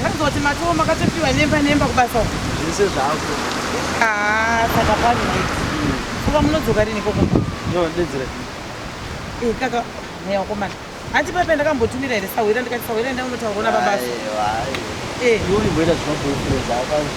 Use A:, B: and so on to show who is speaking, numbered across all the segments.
A: Ndakazwa kuti matowo makatopiwa nemba nemba kubasa uko. Zvese zvako.
B: Ah,
A: saka pano nditi. Kuba munodzoka rini koko? No, ndedzira.
B: Eh,
A: kaka, mweya wakomana. Hanti pepe ndakambotumira here sahwira ndikati sahwira enda unotaura na babasa. Aiwa. Eh,
B: iwe uimboita zvema boyfriends akazvi.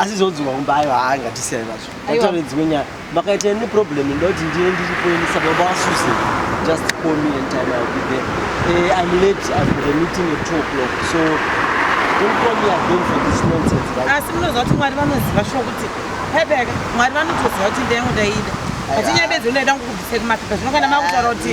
A: asi
B: zvodzwa kumba aiwa haa ngatisiyane nazvo taure dzimwe nyaya makaita ini problem ndoda kuti ndiye ndiripo ini saka baba vasuse just call me and time ill be there uh, i'm late i've got a meeting at two o'clock so don't call me again for this nonsense right? asi munoziva kuti mwari
A: vanoziva shuwa kuti hebeka mwari vanotoziva kuti ndayangu ndaida hatinyabedzi unoida ngokubvise kumapepa zvino kana makutaura kuti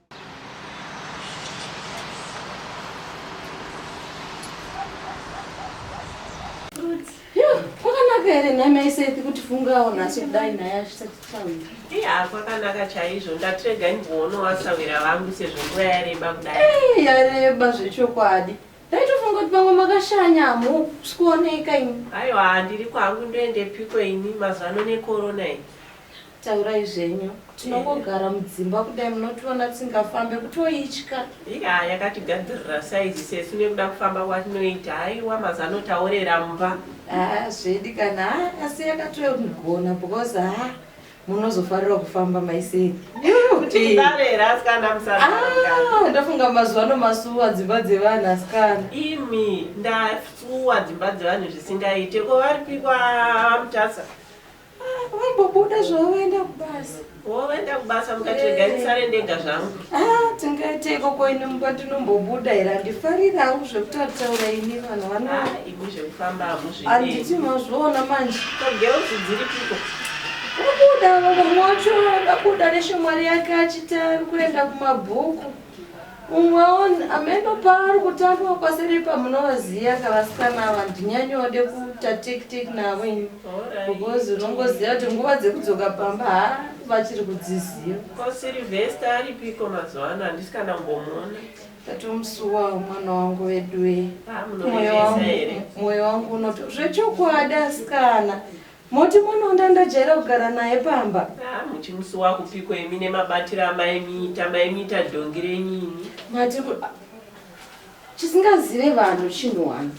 C: here nhai maisethi kuti fungawo nhasi kudai nhai azvisati taura iya kwakanaka chaizvo
D: ndatirega ndikuona wasawira vangu sezvo nguva yareba kudai yareba
C: zvechokwadi ndaitofunga kuti vamwe makashanya hamusi kuoneka ini aiwa ndiri kwangu
D: ndoendepiko ini mazano nekorona iyi Taurai
C: zvenyu. Tinongogara mudzimba kudai munotiona tisingafambe kutoitya. Iya yakatigadzirira
D: size sesu nekuda kufamba kwatinoita. Haiwa mazano taorera mumba. Ah zvedi
C: kana ah, asi yakatogona because ah munozofarira kufamba maisei. Tichibarera
D: asikana musaranga. Ah ndafunga mazuva ano
C: masuwa dzimba dzevanhu asikana. Imi
D: ndasuwa dzimba dzevanhu zvisingaite ko varipi kwa Mutasa. Vambobuda
C: zvavo
D: vaenda kubasa. Oh,
C: vaenda
D: kubasa mukati regai ndisare ndega zvangu. Ah,
C: tingaite ikoko ini mumba ndinombobuda here handifarira hangu zvekuti ataura ini vanhu vano. Ah, imi zvekufamba
D: hamuzvidi. Handiti mazviona
C: manje. Ko girls dziripiko?
D: Kubuda
C: vamwe wacho akabuda neshamwari yake achiti ari kuenda kumabhuku. Umwewo ameno paari kutambwa kwasiripa munovaziva ka vasikana ava ndinyanyoode kuita take take navo ini because unongoziva kuti nguva dzekudzoka pamba ha vachiri kudziziva. Ko Sylvester
D: aripiko mazuva ano handisi kana kumbomuona. Ndatomusuwawo
C: mwana wangu veduwee. Ah, Moyo
D: munorevesa wangu here? moyo wangu
C: unoto zvechokwadi asikana Moti munoda ndojaira kugara naye pamba. Haa muchimusuwa
D: kupiko imi nemabatiro amaimiita maimiita dhongi renyu imi. Mati ku a
C: chisingazive vanhu chinhu one.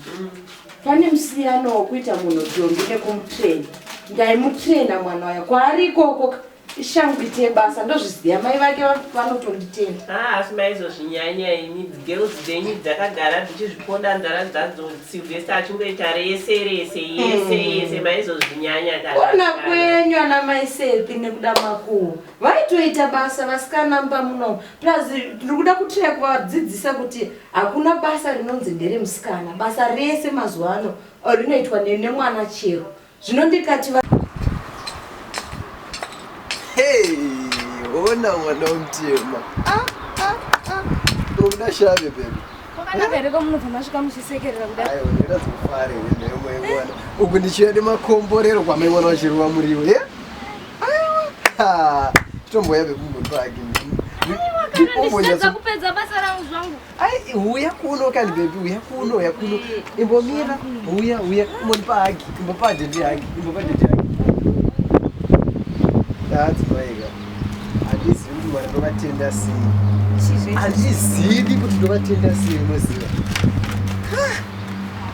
C: Pane musiyano wekuita munhu dhongi nekumutrainer. Ndaimutrainer mwana uya kwaari ikoko ka ishangu ite basa ndozviziva mai vake vanotonditenda ah, asi maizozvinyanya
D: ini girls dzenyu dzakagara dzichizvipoda nzara dzadzo silvester achingoita rese rese yese hmm. yese maizozvinyanya ona kwenyu
C: ana mai sepi nekuda makuwo vaitoita basa vasikana mba muno plus ndiri kuda kutira kuvadzidzisa kuti hakuna basa rinonzi nderemusikana basa rese mazuva ano rinoitwa nemwana chero
B: zvino ndikati va hey ona mwana mutema
E: ah, ah, ah. unoda shave
B: baby uku ndichiuya nemakomborero kwamaiwana vachirova muriwo ye tomboya vekumbotwaki
E: Ai huya kuno kani
B: baby huya kuno huya kuno. Imbomira huya huya moni pa hagi imbo pa dede hagi imbo pa dede hagi. That's right. Andisi kuti mwana ndovatenda sei. Andizivi kuti ndovatenda sei unoziva.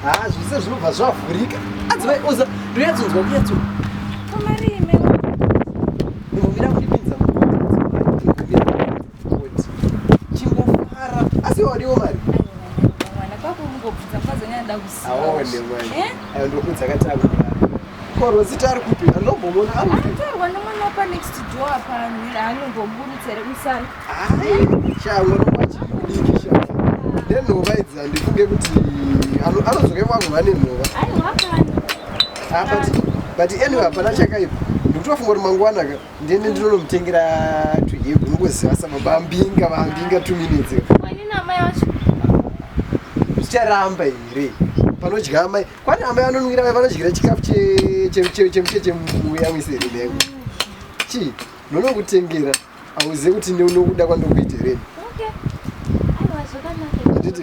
B: Ah, zvose zvinobva zvavhurika. Adzivai oza ndoyatsonzwa kuyatso. Kamari ime. Imbomira kuti pinza. Imbomira kuti pinza. chingofara asi wadiwo mari ndokudza katanga korwa zita ari kupi anobomona anotorwa nomwana
E: wapa next door apa anongoburutsa here musana hai shamwa
B: nokwachidiki shamwa nenhova idzi handifunge kuti anodzoka ivangu vane nhova ah, but anyway hapana chakaipa ndikutofunga kuti mangwanaka ndini ndinonomutengera tuhegu unongoziva samabambinga bambinga two minutes zvicharamba here panodya amai kwani amai vanonwira mai vanodyira chikafu chemuchechemuya wese here meko chii ndonokutengera auzive kuti neunokuda kwandokuita here anditi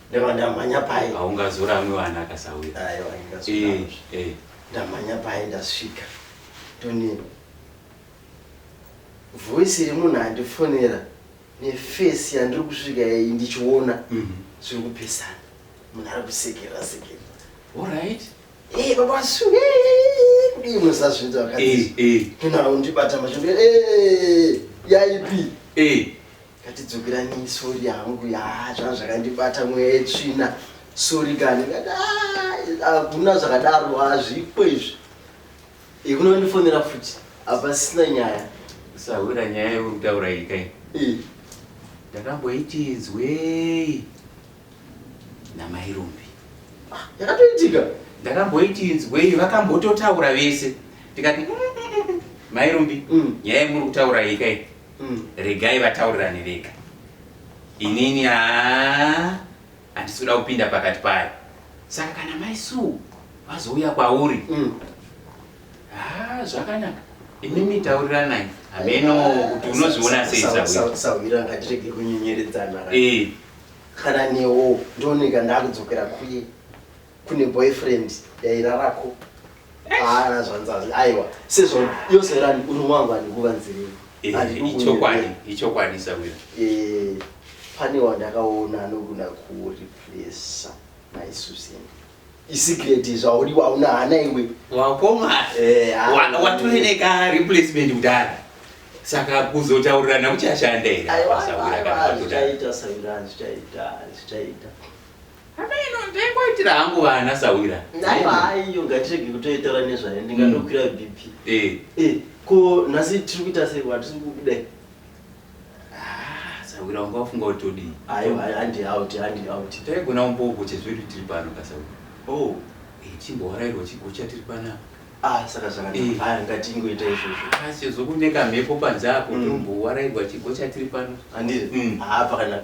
F: Ndava ndamhanya
G: paye. Haungazoramwi vana
F: akasauya. Aiwa ndingazoramwi. Eh, eh.
G: Ndamhanya paye ndasvika. Toni. Voice iri munhu andifonera nefesi yandiri kusvika iyi ndichiona Mhm. zviri kupesana. Munhu ari kusekerera sekerera. All
F: right. Eh baba
G: su. eh, Kudii musazvinza Eh, vakadzi. eh, Tona undibata mashoko. Eh yaipi. eh. Ngatidzokeranei sorry hangu yaa zvanga zvakandibata mweya yetsvina sorry kani ngati "Ah, hakuna zvakadaro hazvipo izvi ikunondifonera futi hapasisina nyaya
F: usahwira nyaya yauri kutaura iyi kai Eh, ndakamboiti inzwei namai rumbi ah, yakatoitika
G: ndakamboiti
F: inzwei vakambototaura vese ndikati "Mm, mm, mm, mm, mai rumbi Mm. nyaya yemuri kutaura iyi kai mm. regai vataurirane vega inini haa handisi kuda kupinda pakati payo saka kana mai suu vazouya kwauri mm. haa zvakanaka imimi tauriranai hameno kuti unozviona sei sahwira ngatirege
G: kunyenyeredzana eh. kana newo ndioneka ndakudzokera kuye kune boyfriend yairarako haana zvanzazi aiwa sezvo yose rani uri mwangu andikuva nzirei ichokwadi
F: ichokwadi sawira
G: pane wandakaona anogona kureplesa mai susan isecreti zvauri wauna hana iwe
F: wakomawatoneka replacement kudara saka kuzotaurirana kuchashanda
G: here Hama
F: ino ndaingoitira hangu vana sahwira. Aiwa haiyo
G: ngatirege kutoitaura nezvayo ndingatokwira mm. BP. Eh. Eh, ko nhasi tiri kuita sei wati tiri kudai? Ah,
F: sahwira wanga wafunga kuti todii? Aiwa handi
G: out, handi out. Taigona
F: umbogo chezvedu tiri pano ka sahwira. Oh, eh chimbowarairwa chigocha tiri pana. Ah, saka saka
G: eh. haya ngatingoita izvozvo. Ah, sezokuneka mhepo
F: panze apo mm. tombowarairwa chigocha tiri pano. Handiri? Mm. Ah,
G: pakanaka.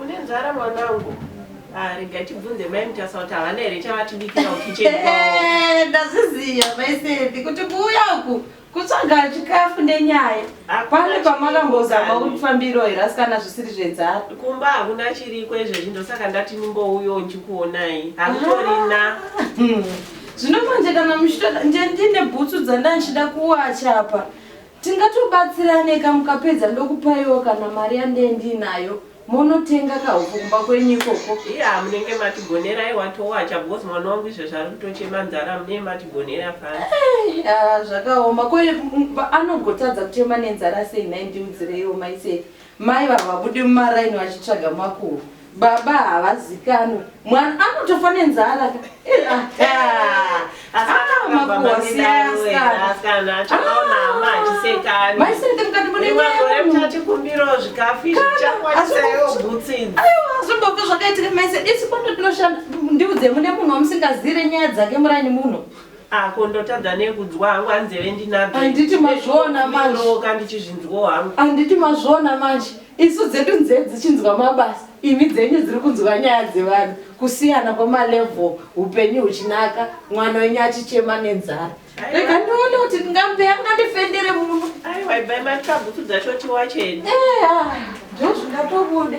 D: une nzara mwanangu ah, rega tibvunze mai mutasa kuti havana here chavatibikira ukicheni eh, ndazviziva
C: maisevi kuti kuuya uku kutsvaga chikafu nenyaya pane pamakambozama kuti fambiro here asikana zvisiri zvenzara kumba hakuna
D: chiriko izvezvi ndosaka ndati nimbouyo ndichikuonai hakutorina ah, hmm.
C: zvino manje kana muchitoda ndine bhutsu dzandandida kuwacha apa Tingatobatsiraneka mukapedza ndokupaiwo kana mari yandee ndiinayo monotenga kahupfu kumba kwenyu ikoko. Iya munenge
D: matigonera iwa towacha because mwana wangu izvezvi ari kutochema nzara munee matigonera fani. Eh, ah, zvakaoma
C: ko mm, anogotadza kuchema nenzara sei nhai ndiudzireiwo maisei Mai vava vabude mumaraini vachitsvaga makuru. Baba havazikanwe. Mwana anotofa nenzara. Eh, ah, ah. Ah, makuwa siyana. Mai sirike mukati mune
D: nyaya yemunhu. Aiwa, zvombobva
C: zvakaitika mai sirike. Isi kwando tinoshanda. Ndiudze mune munhu wamusingaziire nyaya dzake muraini muno. Ako ndotadza
D: nekudzwa hangu hanzeve ndinadzo. Handiti mazviona
C: manje. Ndinoka ndichizvinzwawo hangu.
D: Handiti mazviona
C: manje. Isu dzedu nzeve dzichinzwa mabasa. Imi dzenyu dziri kunzwa nyaya dzevanhu. Kusiyana kwemalevel upenyu huchinaka mwana wenyu achichema nenzara. Rega ndione kuti ndingambe angandifendere muno. Aiwa ibai matabutsu
D: dzacho tiwacheni. Eya.
C: Ndozvingatobude.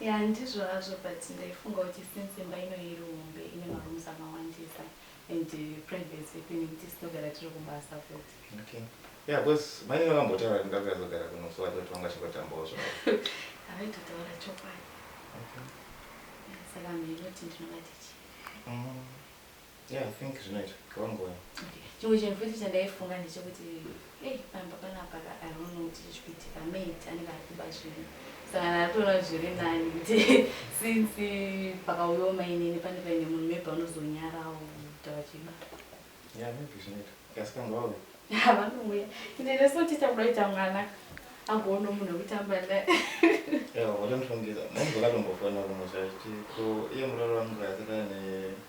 H: Yeah
I: ndizvo hazvo but ndaifunga kuti since imba ino iri hombe ine marooms akawandisa and privacy yekuti nekuti tinogara tiri kubasa futi. Okay. Yeah
H: because mainini vakambotaura kuti ndakuda kuzogara kuno so vaitoti vanga chingotambawo zvavo. Havaitotaura
I: chokwadi.
H: Okay. Saka
I: mheno kuti ndinovati chii. Mm.
H: Yeah, I think zvinoita. Go on, go on. Okay. Chimwe chinhu
I: futi chandaifunga ndechekuti hey, pamba panapa I don't know kuti chichiitika maid anenge ari kuba zvinhu sangana ari kuona zviri nani kuti since pakauyawo mainini pane paine munhu maybe anozonyarawo kuti vachiba Yeah, maybe
H: zvinoita. Kasi kanga wauya. vanouya
I: ndine so tiita kuda kuita mwana agoona munhu wekutamba naye Yeah,
H: wakamshongedza. Mwangu wakatombofona kumwe zvacho. Ko iye muroro wangu akatana ne